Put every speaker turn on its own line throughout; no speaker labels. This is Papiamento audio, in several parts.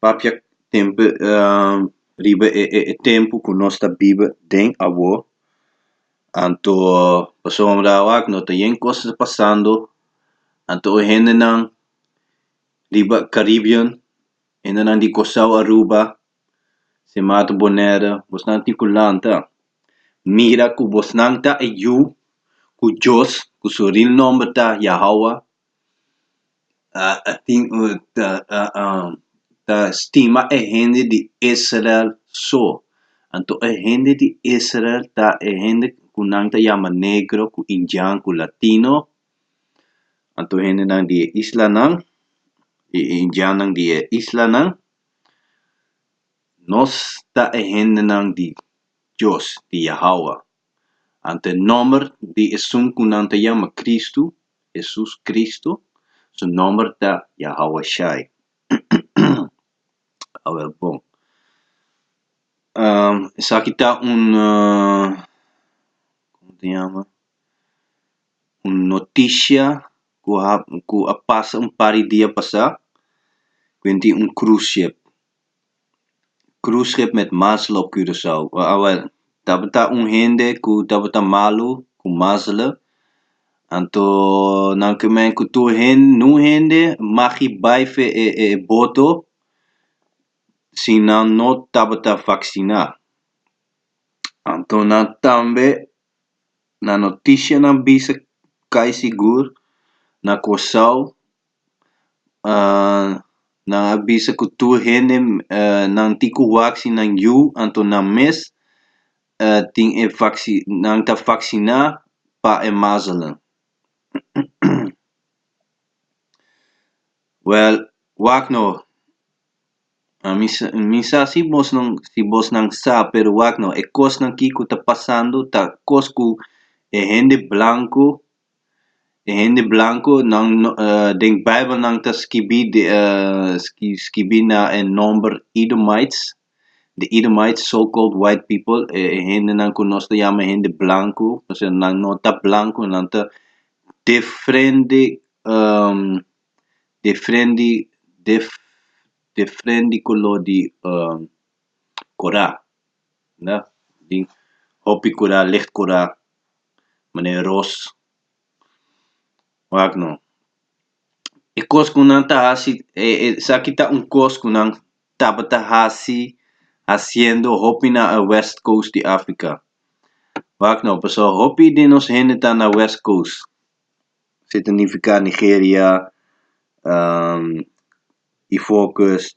papia tempu riba e e e tempu ku nos ta biba den awor, anto pasobra wak no ta yen kos pasando, anto e hendenan riba Caribbean, hendenan di Kòrsou, Aruba, Sint Maarten, Bonaire, bosan tin ku lanta, mira ku bosnan ta e yu ku Dios, ku su ril nòmber ta Yahòwa, a tin ta stima e hende di Israel so. Anto e hende di Israel ta e hende ku nan ta yama negro, ku indian, ku latino. Anto hendenan di e islanan, di e indiannan di e islanan. Nos ta e hendenan di Dios, di Yahawah. Ant e nòmber di esun ku nan ta yama Kristu, Hesus Kristu, su nòmber ta Yahowashai. Awor bon, esaki ta un komo ta yama, un notisha ku a pasa un par di dia pasá, ku bai tin un krus ship. cruise ship met mazzel op curaçao awel tabata un hende cu tabata malu cu mazzel anto nan cu men cu tur hen nun hende magi bay fe e e boto si nan no tabata vaccina anto nan tambe na notishanan bisa cay sigur na curaçao nan a bisa ku tur hende nan tin ku waksi nan yu anto nan mes tin e waksi nan ta waksiná pa e mazelen wèl wak no ami sa mi sa si bos nan si bos nan sa pero wak no e kosnan ki ku ta pasando ta kos ku e hende blanku E hende blanku, nan no, den Bijbel nan ta skibi di skibi na e nòmber Edomites, di Edomites, so called white people, e hendenan ku nos ta yama hende blanku, p'esei nan no ta blanku, nan ta defrende defrendi def defrendi koló di kora, nda, di hopi kora, licht kora. meneer Ros, wak no, e kos ku nan ta hasi e e esaki ta un kos ku nan tabata hasi hasiendo hopi na e west coast di Africa, wak no, paso hopi di nos hende ta na west coast, si ta nifika Nigeria, Ivoorkust,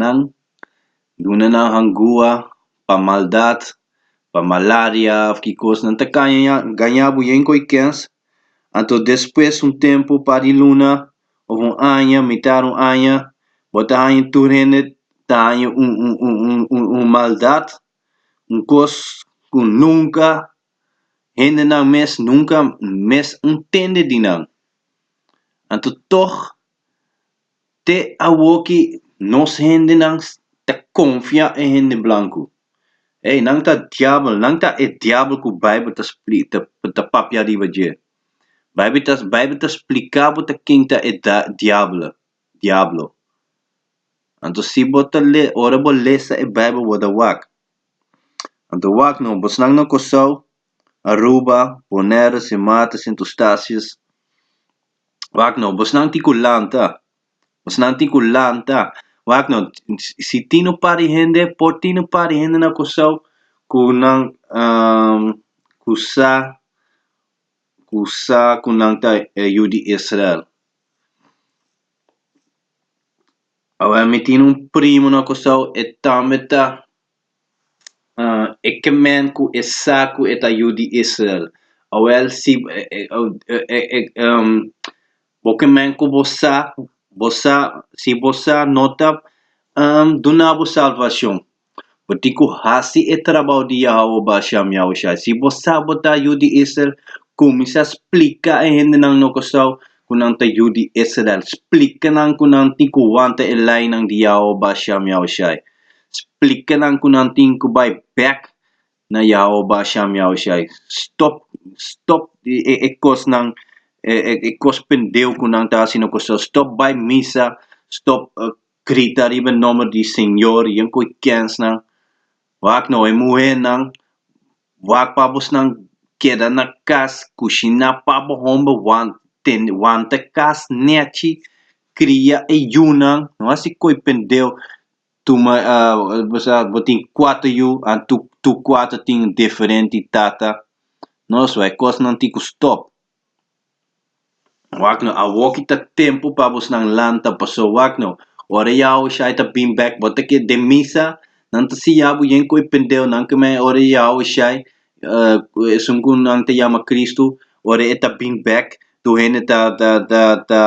nan duna nan hangua pa maldad pa malaria of kikos nan ta kaña gaña bien koe kens anto despues un tempu un par di luna of un aña mitar di un aña bo ta haña tur hende ta haña un un un un maldad un kos ku nunka hende nan mes nunka mes un tende di nan anto tog te awor ki nos hendenan ta konfia e hende blanku. Ey, nan ta diabel, nan ta e diabel ku Beibel ta spli-, ta, ta papia riba dje. Beibel ta, Beibel ta splika bo ta ken ta e da, diabele, diablo. Anto si bo ta le, ora bo lesa e Beibel bo ta wak. Anto wak no, bosnan na Kòrsou, Aruba, Bonèr, Simata, Sint Eustatius, wak no bosnan tin cu lanta bosnan tin cu lanta wak no si tin un par di hende por tin un par di hende na Curaçao cu nan cu sa cu sa cu nan ta e yu di Israel awer mi tin un primo na Curaçao e tambe ta e kemen ku e sa ku e ta yu di Israel, Oel si bo kemen ku bo sa, bo sa si bo sa no ta duna bo salbashon, bo tin ku hasi e trabou di Yahawah Bashan Yahushai. Si bo sa bo ta yu di Israel, kuminsá splika e hendenan no kosou ku nan ta yu di Israel. Splika nan ku nan tin ku wanta e leinan di Yahawah Bashan Yahushai. Splica nan cu nan tin cu bay bek na Yahweh ba sham Yahweh Shai. Stop, stop e, e, e cosnan, e, e, e cos pendeu cu nan ta haci na costado. Stop bay misa, stop uh, grita riba e nomber di Señor, yen cu e kensnan. Wak no, e muhernan, wak pa abosnan, keda na cas, cushina pa bo homber, wan, ten, wanta cas, nechi, cria e yunan, no haci coy pendeu. Tu mai bo tin cuato yu and tu tu cuato tin diferente tata no so e cos nan tin cu stop wak no awoki ta tempo pa bo nan lanta paso wak no ora ya Ushai ta been back bo ta keda den misa nan ta siya bo yen cu e pendeo nan cu me ora ya Ushai esun cu nan ta yama Christu ora e ta been back tur hende ta ta ta ta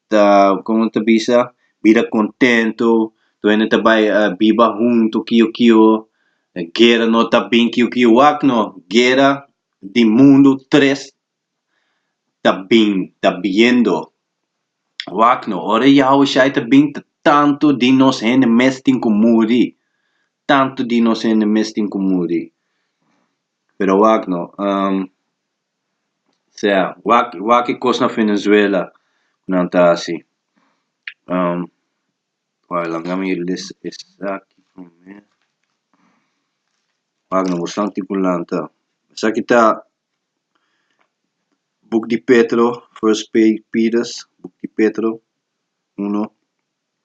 ta, como ta bisa, bida contento, tur hende ta bai biba hunto kio kio, guera no ta bin kio kio, wak no, guera di mundo tres ta bin, ta biendo, wak no, ora Yahwe Shai ta bin ta tanto di nos hende mes tin cu muri, tanto di nos hende mes tin cu muri, pero wak no. sea wak wak e kos na Venezuela ku nan ta hasi, wak lami mi lees esaki primer, wak nan bosnan tin ku lanta, esaki ta buk di Petro, First Pay Peters, buk di Petro uno.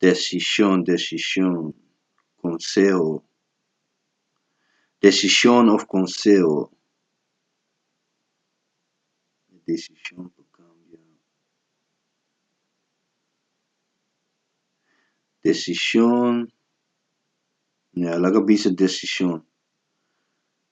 desishon desishon konseho desishon òf konseho desishon pa kambia desishon ya laga bisa desishon.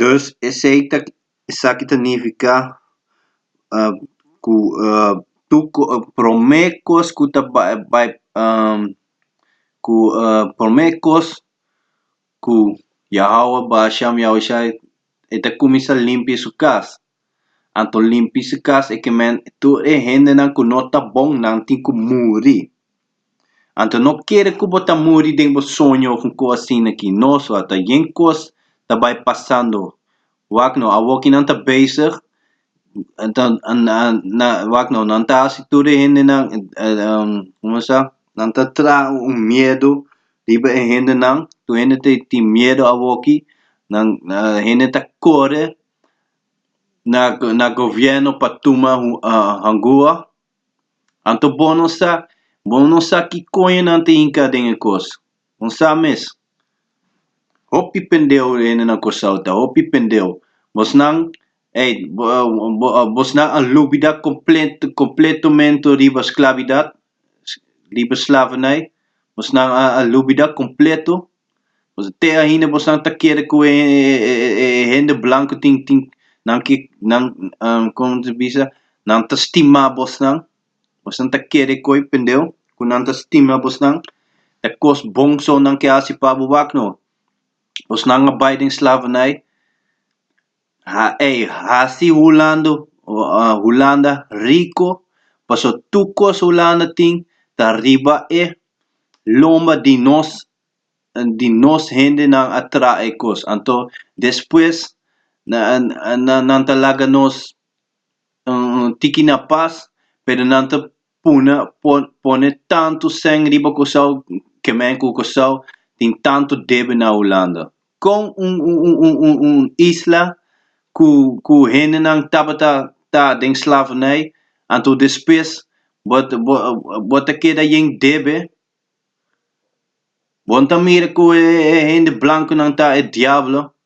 Dus esei ta esaki ta nifiká ku tur promé kos ku ta bai bai ku promé kos ku Yahawah ba a sham Yahushai e ta kuminsá limpi su kas. Anto limpi su kas e kemen i tur e hendenan ku no ta bonnan tin ku muri. Anto no kere ku bo ta muri den bo soño of un kos asina aki. No so a ta yen kos ta bai pasando. Wak no awoki nan ta bezig wak no nan ta hasi tur e hendenan komo se sa nan ta traha un miedu riba e hendenan tur hende tin miedu awoki nan hende ta kore na na gobierno pa tuma hangua, anto bo no sa, bo no sa ki koño nan ta hinka den e kos, bo sa mes, hopi pendeu hende nan Kòrsou ta, hopi pendeu, bosnan ey bosnan a lubida komplet kompletomento riba sklabidat, riba slavernij, bosnan a lubida kompleto Te ainda boso ta kere ku e hende blanku tin tin nan ke nan komo ta bisa nan ta stima bosnan boso ta kere koe pende ku nan ta stima bosnan e kos bon so nan ke hasi pa bo wak no bosnan a bai den slavernij Ha ey hasi hulando uh hulanda rico paso tur cos hulanda tin ta riba e lomba di nos di nos hendenan a traha e cos anto despues na na nan ta laga nos un tiki na pas pero nan ta puna por pone tantu sèn riba Kòrsou kemèn ku Kòrsou tin tantu debe na Hulanda kon un un isla ku ku hendenan tabata ta den slavernai anto despues bo bo ta keda yen debe bon ta mira ku e hende blankunan ta e diablo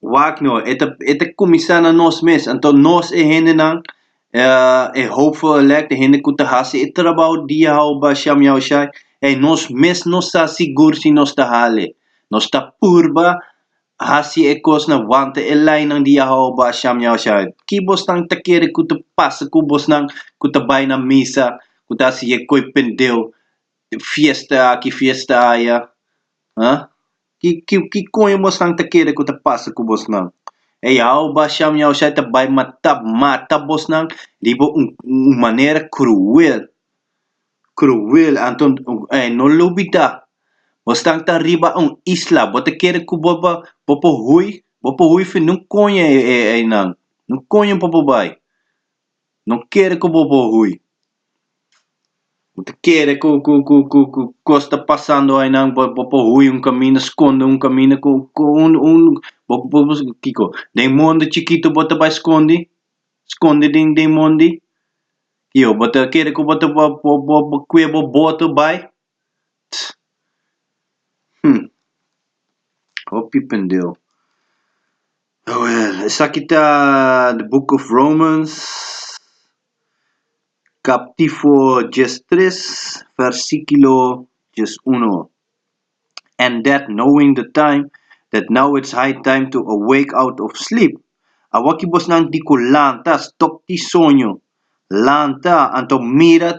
Wak no, e ta e ta kuminsá na nos mes. Anto nos e hendenan, e hopeful elect, e hende ku ta hasi e trabou di hou ba sham yau shai, ey nos mes no sa sigur si nos ta hal e. Nos ta purba hasi e kosnan, wanta e lainan di hou ba sham yau shai. Ki bosnan ta kere ku ta pasa ku bosnan ku ta bai na misa, ku ta hasi e koi pendeu, fiesta aki, fiesta aya? Aa? Ki ki ki koño bosnan ta kere ku ta pasa ku bosnan? E Yawe Basham Yahushai ta bai mata mata bosnan riba un un manera kruel, kruel. Anto e no lubidá bosnan ta riba un isla, bo ta kere ku bo bo bo por hui? Bo por hui fin? Nunkoño e e einan, nunkoño bo por bai. No kere ku bo por hui. Bo ta kere ku, ku, ku, ku, ku kos ta pasando ainan, bo, bo por hui un kaminda, skonde un kaminda ku, ku un, un, bo, bo, bo, kiko, den mondi chikitu bo ta bai skondi? Skondi den, den mondi? Yo, bo ta kere ku bo ta, bo, bo, bo, bo kue bo boto bai? T, Hm. Hopi pendeu. Awel, esaki ta The Book of Romans, kaptifo djes tres, vèrsikulo djes uno, And that, knowing the time, that now it's high time to awake out of sleep, awa ki bosnan di ku lanta, stòp di soño, lanta, anto mira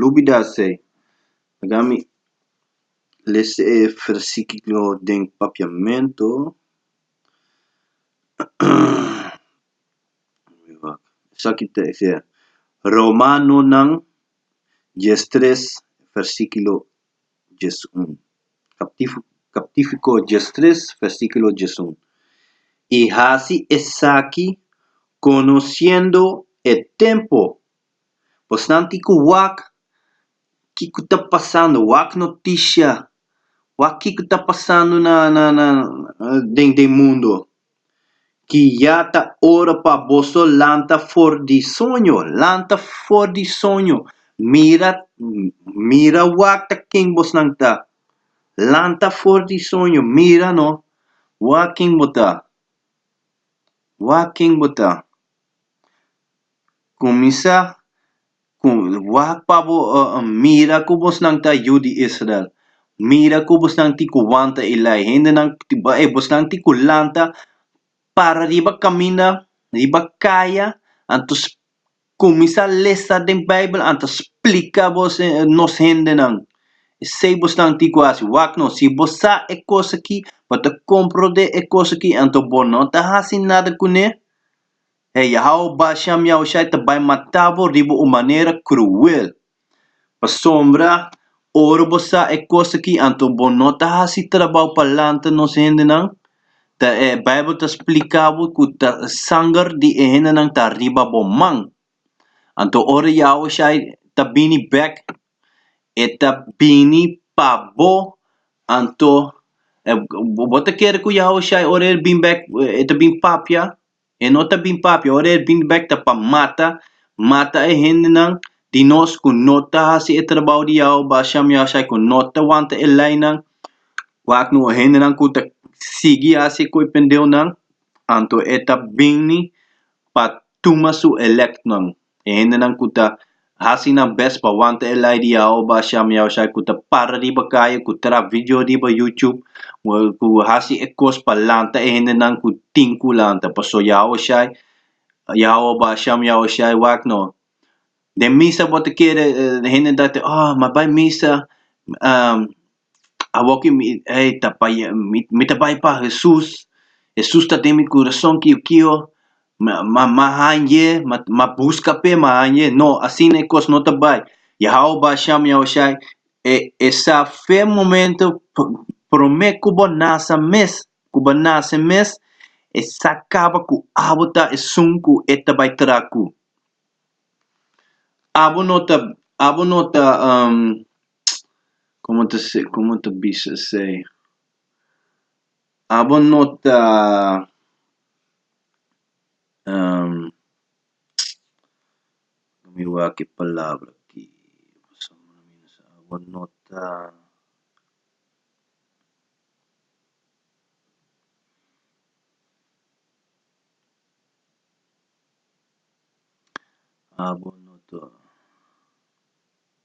lubida esei paga mi lese e fersiklo den papiamento esaki ta esei romanonan dies tres fersiklo dies un captifico dies tres fersiklo dies un i hasi esaki conociendo e tempo Bosnanti ku wak kiko ta pasando, wak noticia, wak kiko ta pasando na na na den den mundo, ki ya ta ora pa boso lanta for di soño, lanta for di soño, mira mira wak ta ken bosnan ta, lanta for di soño, mira no wak ken bo ta, wak ken bo ta. Kuminsá ku wak pa bo mira ku bosnan ta yu di Israel. Mira ku bosnan tin ku wanta e lei. Hendenan tin ku e bosnan tin ku lanta para riba kaminda, riba kaya, anto kuminsá lesa den Beibel, anto splika bos nos hendenan. Esei bosnan tin ku hasi. Wak nò, si bo sa e kos aki, bo ta komprondé e kos aki, anto bo no ta hasi nada kuné. E Yahweh basha miaushai ta bai mata bo riba un manera kruel. Pasobra ora bo sa e kos akí anto bo no ta hasi trabou pa lanta nos hendenan. Ta e Beibel ta splika bo ku ta sanger di e hendenan ta riba bo man. Anto ora Yahushai ta bini bèk E ta bini pa bo. Anto bo ta kere ku Yahushua ora el bin bèk e ta bin papia? E no ta bin papia, ora e bin bèk ta pa mata, mata e hendenan di nos ku no ta hasi e trabou di Yahua Bashan Yahushai, ku no ta wanta e leinan, wak nu e hendenan ku ta sigui hasi e koi pendeonan. Anto e ta bini pa tuma su elèktnan. E hendenan ku ta hasi nan bes pa wanta e lei di Yahweh basha mi Yahushai, ku ta para riba kaya, ku tra vidio riba YouTube, ku hasi e kos pa lanta e hendenan ku tin ku lanta. Pasobra Yahushai, Yahweh basha mi Yahushai, wak no. Den misa bo ta kere hende ta kere, oh, mi a bai misa. Awor ki mi ei ta pa ye, mi, mi ta bai pa Hesus, Hesus ta den mi kurason ki yo kio, ma, ma, ma hanje, ma, ma buska p'e, ma hanje. No, asina e kos no ta bai. Yahawah Basham, Yahushai, e, esaf'e momento pr, promé ku bo nasa mes, ku bo nase mes, e sa kaba ku abo ta esun ku e ta bai tra ku. Abo no ta, abo no ta, um. Como ta si como ta bisa esei abo no ta mi wak e palabra aki abo no ta abo no ta.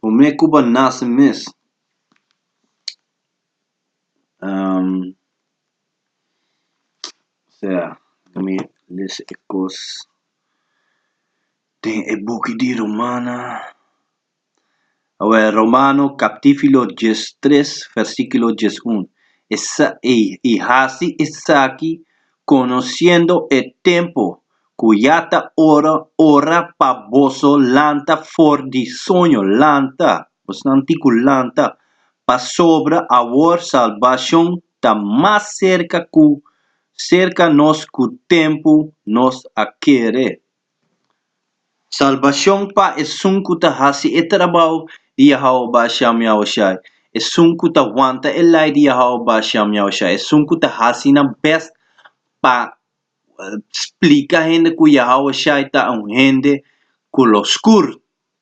P'amé Cuba nase mes, sea, mi lesa e cos, den e buki di Romana, awe Romano captifilo dies tres versiculo dies un, i hasi esaki conociendo e tempo, ku ya ta ora ora pa boso lanta for di soño lanta bosnan tin ku lanta pasobra awor salbashon ta mas serka ku serka nos ku tempu nos a kere salbashon pa esun ku ta hasi e trabou di Yahò BaSha Miaoshai esun ku ta wanta e lei di Yahò BaSha Miaoshai esun ku ta hasi nan bèst pa splika hende ku Yahawah Shai ta un Hende ku lo skur.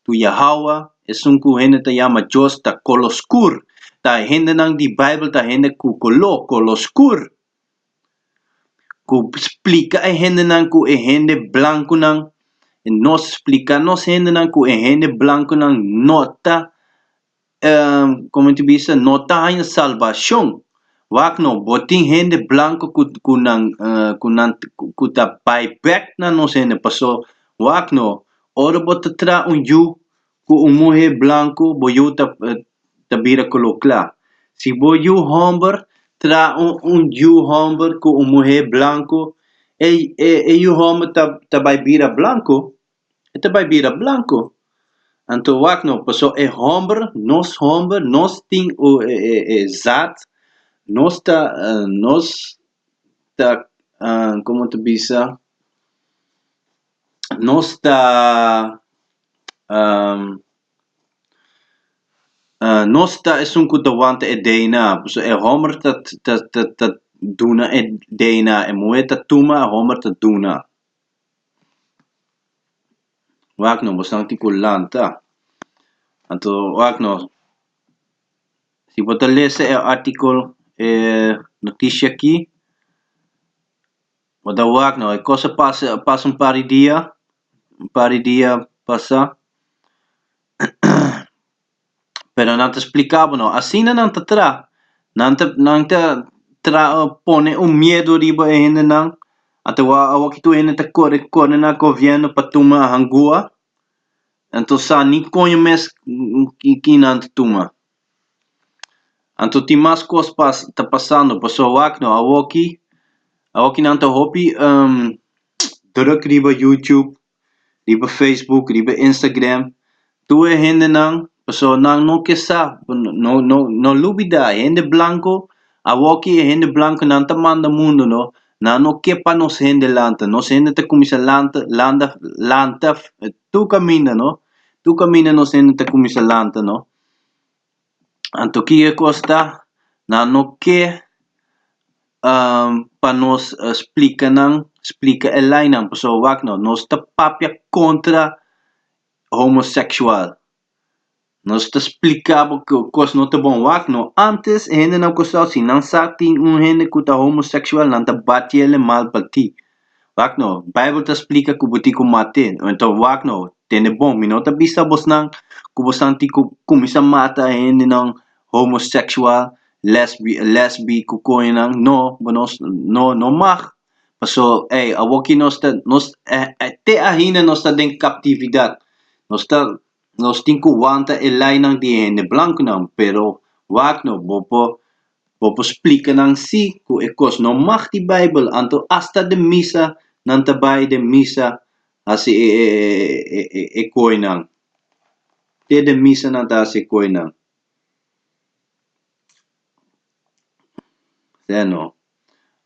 Ku Yahawah, esun ku hende ta yama Dios, ta kolo skur. Ta hendenan di Beibel ta hende ku koló, kolo skur, ku splika e hendenan ku e hende blankunan, nos splika nos hendenan ku e hende blankunan no ta. Komo ti bisa, no ta haña salbashon. Wak nò, bo tin hende blanku ku, ku nan, ku nan, ku ta bai bèk na nos hende. Pasó, wak nò, ora bo ta traha un yu ku un muhé blanku, bo yu ta, ta bira koló kla. Si bo yu hòmber traha un, un yu hòmber ku un muhé blanku, e, e yu hòmber ta, ta bai bira blanku. e ta bai bira blanku. Anto wak no, paso e hòmber, nos hòmber, nos tin u e e e zat, nos ta nos ta komo ta bisa, nos ta nos ta esun ku ta wanta e DNA, paso e hòmber ta ta ta ta duna e DNA, e muhé ta tuma, e hòmber ta duna. wak no bo santi ku lanta anto wak no si bo ta lese e artikel e notishi aki bo ta wak no e kos a pasa a pasa un par di dia un par di dia pasa pero nan ta spliká bo no, asina nan ta traha, nan ta nan ta traha pone un miedu riba e hendenan, atawa awo ki tur hende ta kore kore na gobièrnu pa tuma hangua, nan ta sa ni koño mes ki nan ta tuma, anto tin mas kos pa ta pasando, pasobra wak no awoki awoki nan ta hopi drùk riba YouTube. riba Facebook, riba Instagram, tur e hendenan, pasobra nan no ke sa, no no no lubida e hende blanku, awoki e hende blanku nan ta manda mundunan, nan no ke pa nos hende lanta, nos hende ta kuminsá lanta landa lanta tur kaminda no, tur kaminda nos hende ta kuminsá lanta no. Anto ki e kos ta? Nan no ke pa nos splika nan, splika e lainan, pasobra wak no, nos ta papia kontra homoseksual, nos ta splika bo ku e kos no ta bon, wak no, ántes e hendenan kustaba si nan sa tin un hende ku ta homoseksual nan ta batiele mal pa ti, Wak no, Bijbel ta splika ku bo tin ku mat'é. Anto wak no, tende bon, mi no ta bisa bosnan ku bosnan tin ku kuminsá mata hendenan homoseksual, lesbi lesbi ku koñonan. No, bo no no no mag. Paso, ey, awoki nos ta nos e e te ainda nos ta den kaptividat. Nos ta nos tin ku wanta e leinan di e hende blankunan, pero wak no, bo por Bo por splica nan si cu e cos no mag di Bijbel, anto hasta den misa nan ta bay den misa haci e coinan. Te den misa nan ta haci e coinan. Sen no.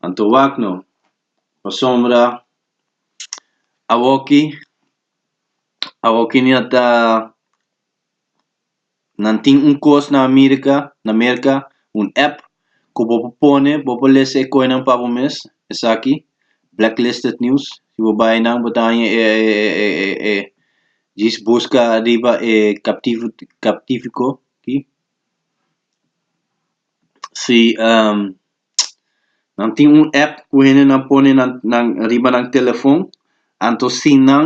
Anto wak no. Pasobra awoki, awoki no a ta. Nan tin un kos na Amerika, na Merka, un app ku bo por pone, bo por lese e koinan pa bo mes, esaki, Blacklisted News, si bo bai nan bo ta haña e e djis buska ariba e captivo captifico aki, si nan tin un app ku hendenan pone nan nan riba nan telefon, anto sin nan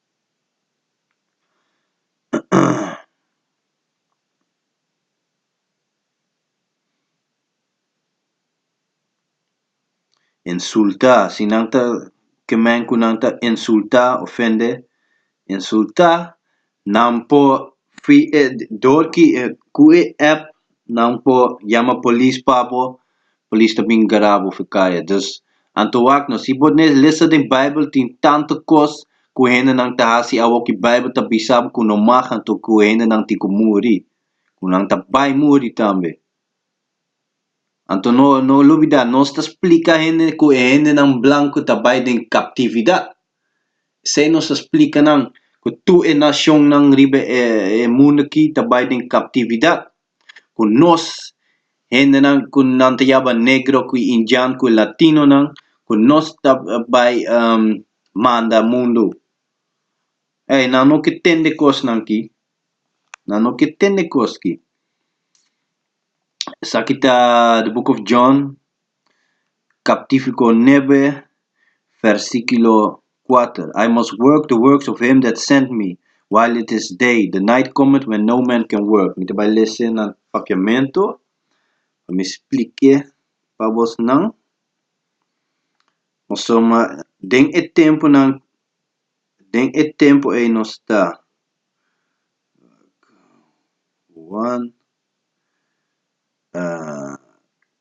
insultá si nan ta ke men ku nan ta insultá ofende insultá nan por dor ki ku e app nan por yama polis pa bo Polis ta bin gara bo fi kaya. Dus, anto wak no. Si bo nes lesa den Bijbel tin tantu kos ku hendenan ta hasi awoki Bijbel ta bisa bo ku no mag anto ku hendenan tin ku muri, ku nan ta bai muri tambe. Anto no no lubidá nos ta splika hende ku e hendenan blanku ta bai den kaptividat. Esei nos ta splika nan ku tur e nashonnan riba e e mundu aki ta bai den kaptividat. ku nos hendenan ku nan ta yaba negro ku e indian ku e latinonan ku nos ta bai manda mundu ey nan no ke tende kosnan ki nan no ke tende kos ki esaki ta the book of John Captifico nebe, versiculo kuater, I must work the works of him that sent me, while it is day, the night cometh when no man can work. Mi ta bai lese nan papiamento, pa mi splike pa bosnan. Nos so ma, den e temponan, den e tempo ei nos ta, wan,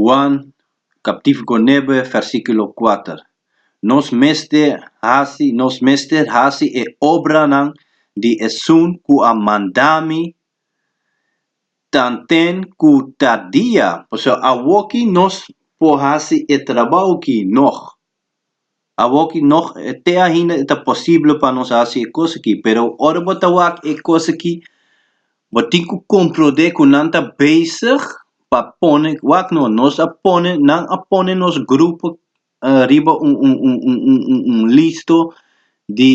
Juan, captifico nebe, versiculo kuater, Nos mester haci, nos mester haci e obranan di Esun cu a manda mi tanten cu ta dia. Pasobra awoki nos por haci e trabao ki nog. awor ki nog te ainda e ta posible pa nos hasi e cos aki pero ora bo ta wak e cos aki bo tin cu comprende cu nan ta bezig pa pone wak no nos a pone nan a pone nos grupo riba un un un un un un listo di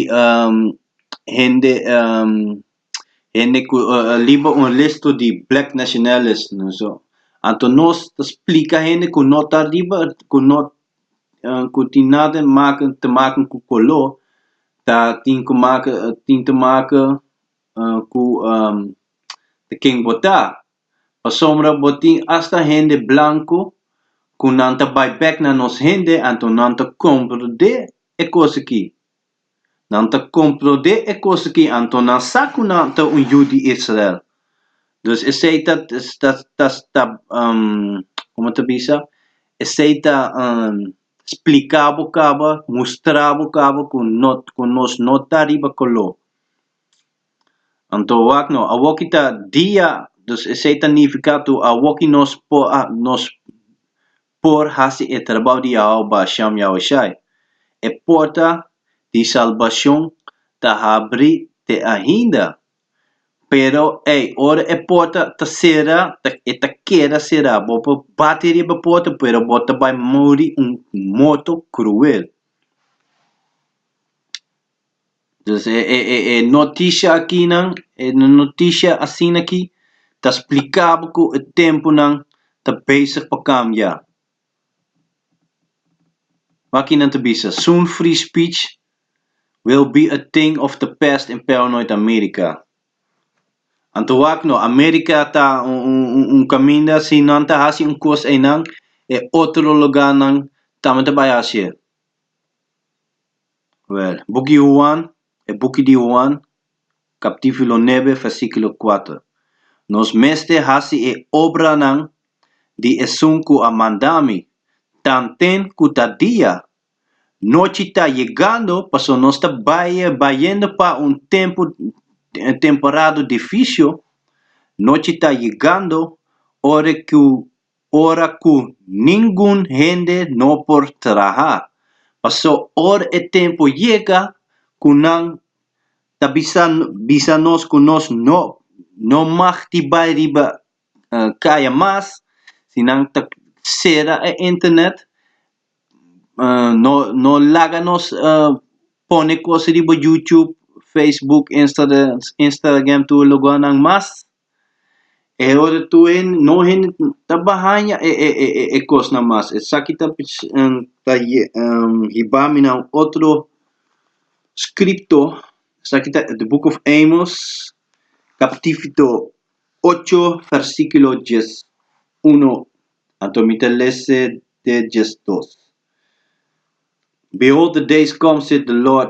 hende hende ku a liba un listu di black nationalis no so anto nos ta splika hende ku no ta ariba ku no ku tin nada make te make ku kolo ta tin ku make tin te make ku te ken bo ta pasobra bo tin hasta hende blanku ku nan ta bai bek na nos hende anto nan ta komprende e kos aki. Nan ta komprondé e kos akí, anto nan sa ku nan ta un yu di Israel. Dus esei ta, ta, ta, komo ta bisa? Esei ta spliká bo kaba, mustrá bo kaba ku no, ku nos no ta riba koló. Anto wak nò, awoki ta dia, dus esei ta nifiká tur awoki nos por, nos por hasi e trabou di Yahò Basham Yahushai. E porta di salbashon ta habrí te ainda. Pero ei, ora e porta ta sera, ta e ta keda será. Bo por bati riba e porta, pero bo ta bai muri un morto kruel. Pues e e e e noticia akinan e noticia asina aki ta splika bo ku e tempunan ta bezig pa kambia, wa ki nan ta bisa soon free speech will be a thing of the past in paranoid America, anto wak no America ta un un un un kaminda si nan ta hasi un kos einan e otro logarnan tambe ta bai hasi'e. Well, Buki Huan, e Buki di Huan, captivulo nebe, versiculo cuater, Nos mester haci e obranan di Esun cu a manda mi, tanten cu ta dia, nochi ta yegando, pasobra nos ta bay, bayendo pa un tempu, temporada di vicio, nochi ta yegando, ora cu ora ku ningun hende no por traha. Pasó or e tempu yega ku nan ta bisa bisa nos ku nos no no mag di bai riba kaya mas, si nan ta sera e internet, no no laga nos pone kos riba YouTube, Facebook, Instagram, Instagram tur lugarnan mas. E ora tur hende, no hende ta ba haña e e e e e kosnan mas. Esaki ta ta hiba mi na un otro scripto, esaki ta The Book of Amos, capítulo ocho, versículo dies uno, anto mi ta lese te dies dos. Behold the days come, saith the Lord,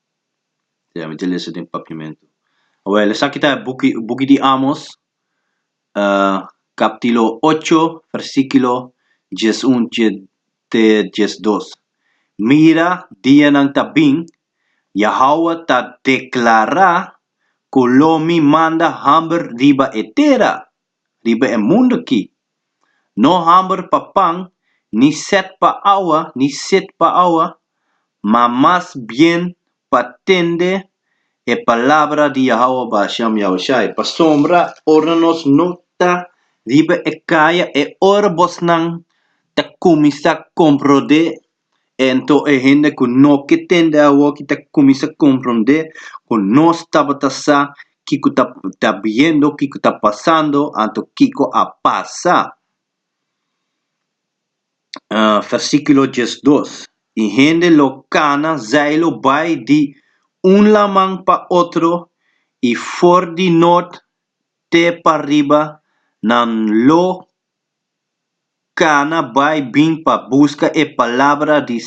Ya mi ta lesa den papiamentu. Awor, esaki ta e buki, buki di Amos, kapitulo ocho, versíkulo dies un te dies dos. Mira, dianan ta bin, Yahua ta deklará ku lo mi manda hòmber riba e tera. riba e mundu aki. No hamber pa pan, ni sèt pa awa, ni sid pa awa, ma mas bien pa tende e palabra di Yahawah Basham Yahushai. Pasobra ora nos no ta riba e kaya, e ora bosnan ta kuminsá komprondé Anto e hende ku no ke tende awoki ta kuminsá komprondé ku nos tabata sa kiko ta ta biendo, kiko ta pasando, anto kiko a pasa. Versíkulo diesdos, E hende lo kana zai lo bai di un laman pa otro i for di nort te pa riba nan lo Kana bai bin pa buska e palabra di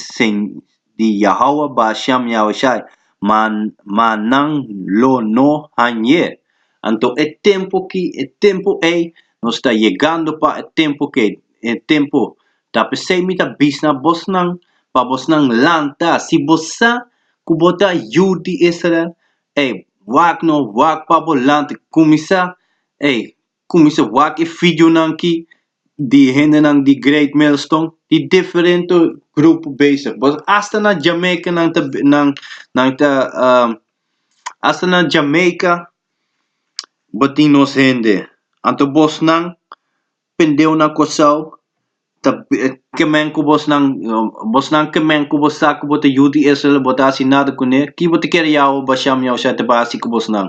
di Yahawah Basham Yahushai, ma ma nan lo no hañ'é. Anto e tempu ki e tempu ei nos ta yegando pa e tempu kei e tempu. Ta p'esei mi ta bis na bosnan pa bosnan lanta, si bo sa ku bo ta yu di Israel, ei, wak no wak pa bo lanta, kuminsá ei Kuminsá wak e fidjunan ki di e hendenan di Great Millstone, di diferente grupo bezig. Bos asta na Jamaica nan ta nan nan ta asta na Jamaica bo tin nos hende. Anto bosnan pendeu na Kòrsou ta kemen ku bosnan bosnan kemen ku bo sa ku bo ta yu di Israel bo ta hasi nada kuné, ki bo ta kere yawa bashá mi ausha ta bai hasi ku bosnan?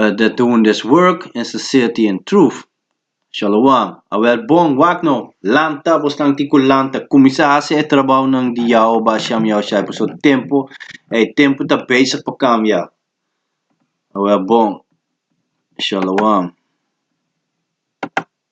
Eh, dat de un des work en sincerity en truth. Shalawam. Awèl bon, wak nou! Lanta, bo slang tin ku lanta. Kuminsá hasi e trabounan di Yao Basham Yao Shai pasobra e tempu, e tempu ta bezig pa kambia. Awèl bon. Shalawam.